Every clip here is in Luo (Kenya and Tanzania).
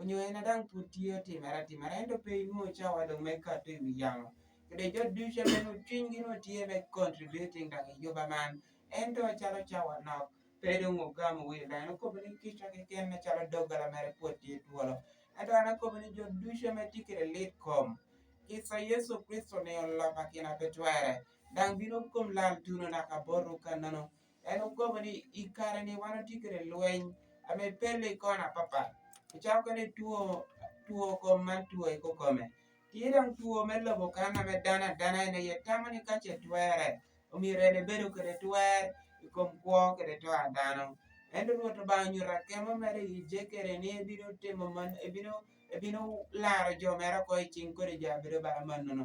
Onyoye na dang pud tiyo timera timera ento pe inuo cha wadong me kato i wi yamo. Kede jo duce me nu cwiny gi nu tiye me contributing dang i juba man. Ento calo cha wanok pe dong ogamo wil dang eno kobo ni kica ki ken me calo dogala mere pud tiye twolo. Ento ana kobo ni jo duce me ti kede lit kom. Kisa Yesu Kristo ni olopa kina pe twere. Dang bino kom lal tuno naka boru ka nono. en ogomo ni i kare-ni wan watye kwede lweny ame pelle i kona papat ocako kwede two two kom ma two i kokome tye dong two me lobo kan ame dano adana en aye tamo ni ka ce twere omyero en ebedo kwede twer i kom kwo kwede to a dano ento rwot obanga onyuto akemo mere i jekere ni ebino timo man ebino ebino laro jo mere oko i cing kodi jo abedo bala manono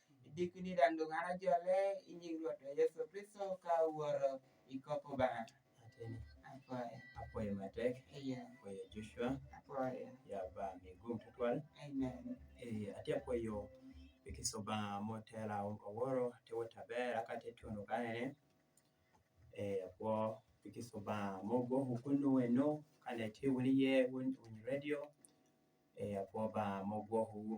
Idik ni randu ng'ara jole inying ruoto Yesu Kristo ka wuoro ikopo bana. Atene. Apoya. Apoya matek. Iya. Apoya Joshua. Apoya. Ya ba migum tutwal. Amen. Eh, ati apoyo ikisoba motela oworo tewo tabera kate tuno kanene. Eh, apo ikisoba mogo hukunu weno kane tiwuliye wun radio. Eh, apo ba mogo hukunu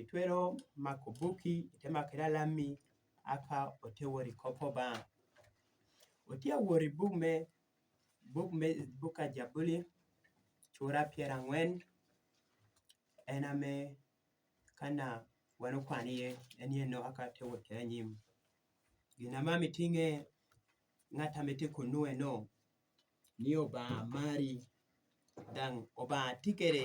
Itwero mako buki ite mako ira lammi aka ote wori kopo ba. Ote wori buk me buk me buka jabuli cura pyera angwen en ame kana wan okwan iye en ye no aka te wori kere nyim. Gina ma mitinge ngata mete kunu eno ni oba mari dang oba tikere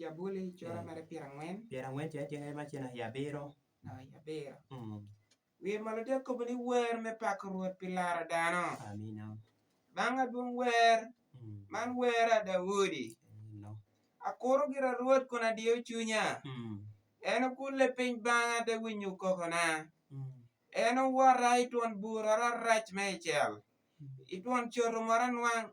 Jabuli cura mere pyero angwen. Pyero angwen cene cene ma cene i abiro. Na i abiro. Mm. Wiye malo dek kobo ni wer me pako Rwot pi laro dano. Amina. Banga dwong wer. Mm. Man wer a Daudi. Amina. Akuro gira Rwot kun adiyo cunya. Mm. En okulle piny banga de winyo kokona. Mm. En owora i twon bura rarac me i cel. Mm. I twon coro mora nwang.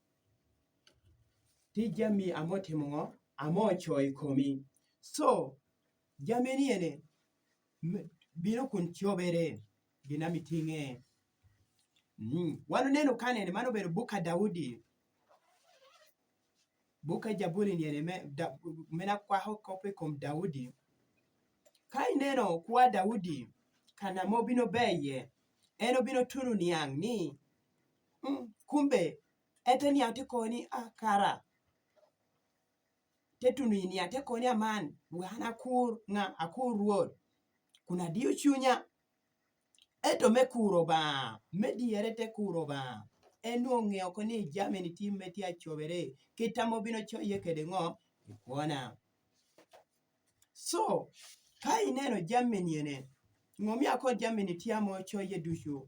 Tij jamii amo timo ng'o? Amo cho e komi. So, jamii ni ene, biro kun chobere, gina miting'e. Mm. Wano neno ka nene, mano bero buka Daudi. Buka Jaburi ni ene, me, da, mena kwa ho kope kom Daudi. Ka ineno kwa Daudi, kana mo bino beye, eno bino tunu niang' ni, mm, kumbe ete ni ate koni akara tetunu ini ate koni aman wan akur nga akur ruot kun adiyo chunya eto me kuro ba me diyere te kuro ba en ong'eyo ko ni jamini tim me tye acobere kitamo bino co ye kede ngo ikona so ka ineno jamini ene ngomya ko jamini tye amo co ye ducu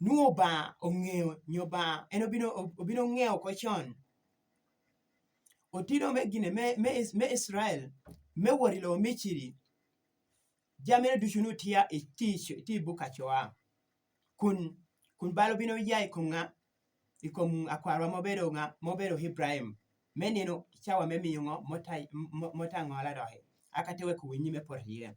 nu oba ong'eyo nyoba en obino obino ng'eyo ko chon otino me gine me me, me Israel me wori lo michiri jamene ducu nu tia i ti ti buka coa kun kun balo bino ya i konga i kom akwarwa mobedo nga mobedo Ibrahim me nino cawa me miyo ngo motangola doki aka te weko winyi me poto iye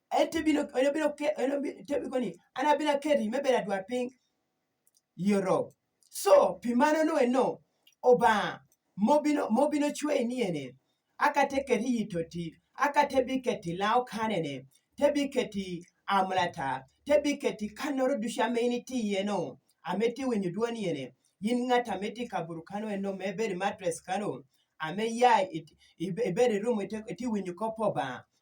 en to bino en obiro ke en obiro koni an abiro keri me bedo adwar piny yoro so pi mano no eno oba mobino mobino chwe ni ene aka te keri yito ti aka te bi keti lao kane ne te bi keti amlata te bi keti kanoro dusha me ni ti yeno ameti winyo duoni ene yin ngata meti kaburu kano eno me beri matres kano ame ya iberi rumo ite winyo kopo ba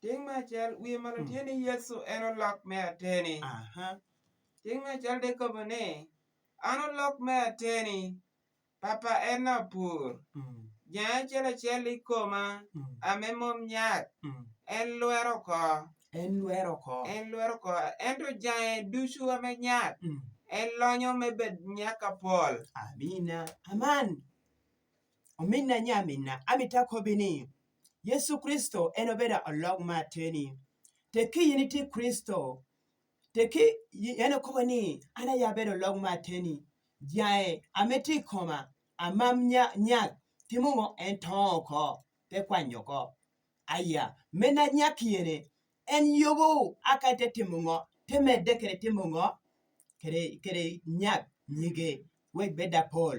Ting me acel wiye ma tye ni Yecu en olok me ateni. Ting me acel de kobo ni an olok me ateni papa en lapur. Mm. Jang acel acel i koma mm. ame mom nyak mm. en lwero ko. En lwero ko. En lwero ko. Ento jange ducu ame nyak en lonyo me bed nyak apol. Amina. Aman. ominna nya minna amita kobini yesu kristo en obeda olog ma teni te ki in iti kristo te ki en okobo ni an aya bedo olog ma teni jae amiti koma amam nya nya ki mungo en to oko te kwanyo ko aya mena nya kiyene en yobo aka te timo ngo te medde kere timo ngo kere kere nya nyige weg beda pol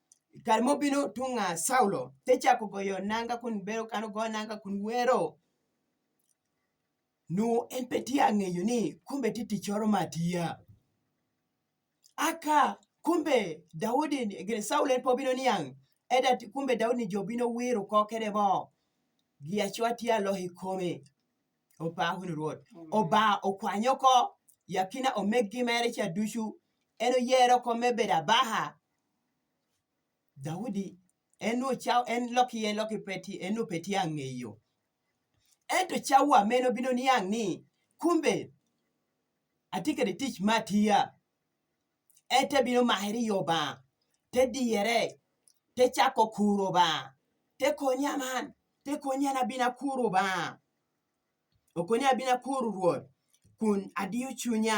kare mobino tung' a Saulo te chako goyo nanga kun bero kano go nanga kun wero nu en pe ti ang'eyo ni kumbe ti tichoro matiya aka kumbe Daudi gire Saulo en pobino niang' eda kumbe Daudi jobino wiro kokere mo gi achwa ti alohi kome opa hun ruot oba okwanyo ko yakina omeg gi mere cha duchu en oyero kome beda baha Daudi en ocha en loki ye loki peti en opeti ang'eyo ento chawa meno bino ni ang' ni kumbe atikede tich matiya ete bino maheri yo ba te diyere te chako kuro ba te konya man te konya na bina kuro ba okonya bina kuro ruoth kun adiyo chunya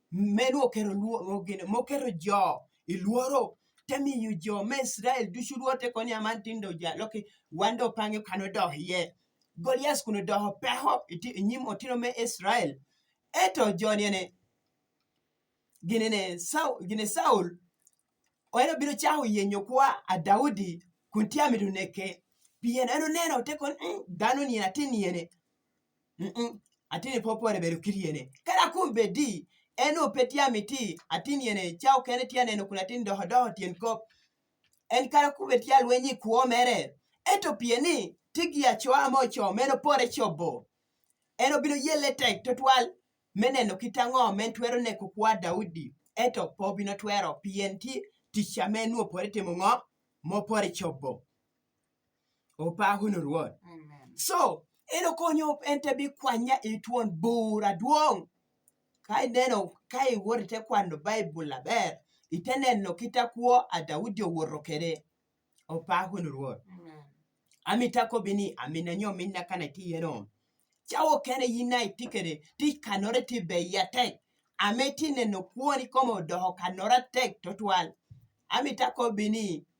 meno okero mokero jo iluoro temiyo jo ma Israel ducu luor te koni aman tindo ja loki wando pange kano doh ye Golias kuno doh peho nyim otino me Israel eto joni ene gine ne Saul gine Saul oero biro chaho yenyo kwa a Daudi kun tiamido neke pien eno neno te kon mm, dano ni atin yene ati ni popo ne bedo kiriene kara kum be di en ope tia miti ati ni ene chao kene tia neno kuna tin doho doho tien kop en kara kum be tia lwenyi kuo mere eto pieni tigi achoa mocho meno pore chobo en obiro yele tek to twal meneno kitang'o men twero ne kukwa Daudi eto po bino twero pien ti ticha menu opore timo ng'o mopore chobo Opa hunu Ruoth. Amen. So, eno konyo en te bi kwanya itwon bura duong. Ka ineno ka iwori te kwano Bible aber, ite neno kita kuo a Daudi owuoro kere. Opa hunu Ruoth. Amen. Amita ko bini amina nyo minna kana ti yeno. Chawo kene yina itikere ti kanore ti be yatek. Ameti neno kuoni komo doho kanora tek totwal. Amita ko bini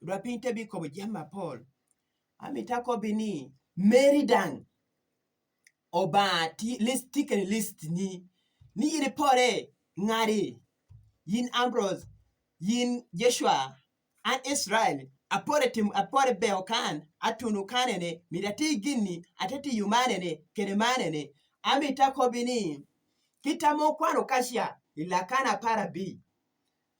Yudwa piny te bi kobo jam mapol. Ami tako bi ni Mary dang. Oba ti list tiken list ni. Ni yiri pore ngari. Yin Ambrose. Yin Joshua. An Israel. Apore tim apore beo kan. Atunu kanene. Mirati gini. Atati yumanene. Kene manene. Ami tako bi ni. Kitamo kwano kashia. Ilakana para bi.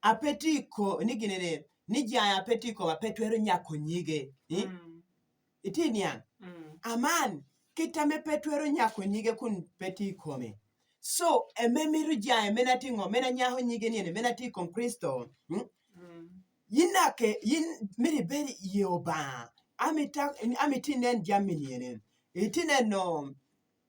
apetiko ni ginene ni jaya apetiko bapetwero nyako nyige eh? Mm. iti niang Mm. aman kitame petwero nyako nyige kun peti kome so eme miru jaye mena tingo mena nyaho nyige niene mena ti kom kristo mm? Mm. yinake yin miri beri yeoba amita amitinen jaminiene itine no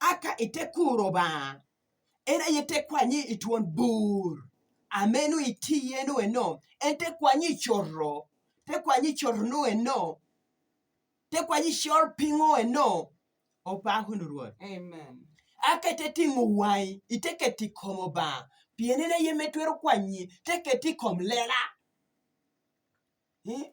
aka ite kuro ba era yete kwanyi itwon bur amenu iti yenu eno ente kwanyi chorro te kwanyi chorno eno te kwanyi chor pingo eno opahunu ruoth amen aka ite tingo wai ite keti komo ba pienene yemetwero kwanyi te keti kom lela eh?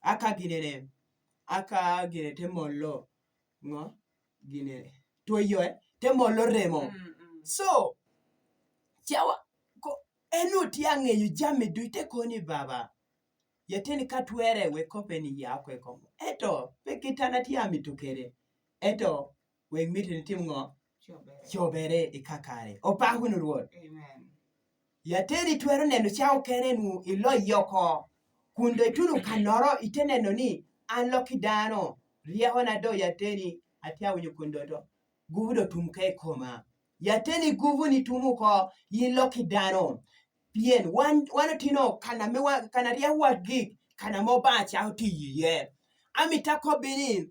aka ginene aka gine te molo ngo gine to yoe te molo remo mm -hmm. so chawa ko enu ti angeyo jame du te koni baba ya teni katwere we kopeni ya kwe komo eto pe kitana ti ami tukere eto weg miti ni tim ng'o chobere ika kare opaku ni ruoth yateri twero neno cha okere nu ilo yoko kundo ituru kanoro ite neno ni an loki dano rieko na do yateri atia winyo kundo to gubu do tum ka ikoma yateri gubu ni tumu ko yin loki dano pien wan wan otino kana mi kana rieko wa gik kana mo ba cha otiyiye amitako binin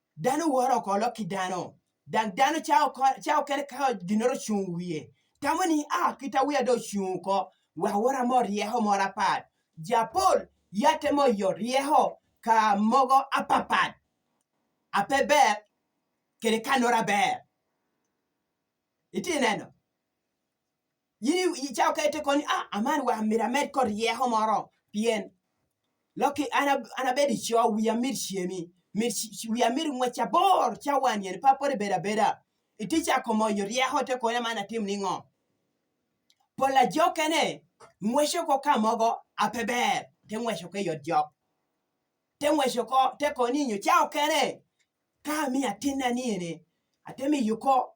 dano woro oko lok ki dano dang dano ca okene kaka ginoro ocung wiye tamo ni a ah, kita wiya do ocung oko wa wora mo ryeko moro apat japol yate mo yo ryeko ka mogo apapat ape ber kede kanora ber iti neno in icawo kete koni ah, aman wa mira med kod rieko moro pien loki ana ana bedi cho wiya mit chiemi mit wiya mit ngwecha bor cha wan yen pa pore beda beda iti cha komo yo rieko te koni mana tim ni ngo pola jokene ngwecho ko kamogo apeber te ngwecho ke yot jok te ngwecho ko te koni nyo cha okene ka mi atinna ni ene atemi yuko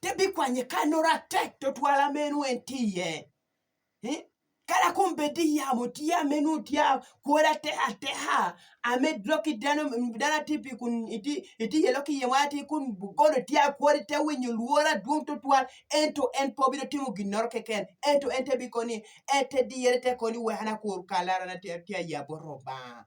te bikwanye kanora tek to twala menu en tiye eh? kala kum bedi yamo tiya menu tiya kora te ateha ame loki dano dana tipi kun iti iti ye loki ye wati kun gono tiya kori te winyo luora duong to twal en to en po biro timo ginor keken en to en te bikoni en te diyere te koni wehana kur kalara na tiya yabo roba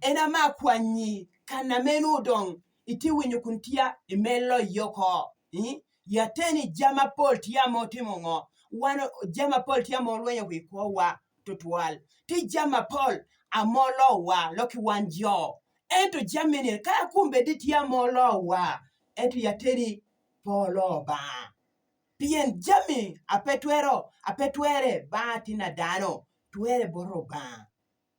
en ama kwanyi kana menu dong iti winyo kun tia imelo yoko yateni jama pol tia mo timo ngo wan jama pol tia mo lwenyo wi kowa tutwal ti jama pol amolo wa loki wan jo ento jamini ka kumbe di tia mo lo wa ento yateni polo ba pien jami apetwero apetwere ba tina dano twere boro ba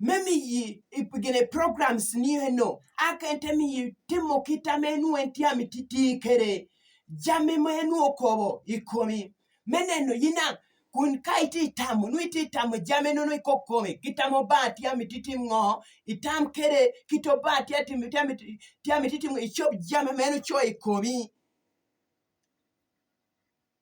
me mi yi ipigene programs niye no akente mi yi timo kita menu enti amititi kere jami menu okobo ikomi meneno yina kun ka iti itamo nu iti itamo jami nu iko kome kitamo ba ti amititi ngo itam kere kito ba ti atimi ti amiti ti amititi ngo ichop jami menu cho ikomi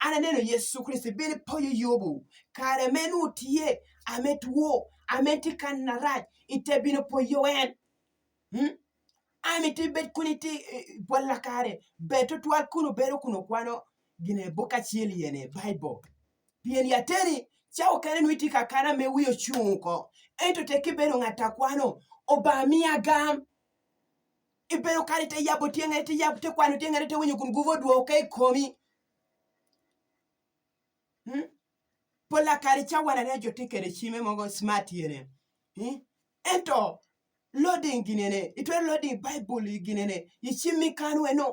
ananeno Yesu Kristo ibed poyo yobu kare menu tie ame tuo ame tikan na raj ite bino poyo wen hmm? ami ti bet kuni ti eh, bolla kare beto twal kuno bero kuno kwano gine boka chiel yene bible pien yateri chao kare nwiti kakana me wiyo chunko ento te kibedo ng'ata kwano obamiya gam ibedo kare te yabo tieng'e te yabo te kwano tieng'e te winyo kun guvo duo kai komi hmm? pola kare chawana ne jote kere chime mogo smart yere hmm? ento loading ginene itwe loading bible ginene ichimi kanwe no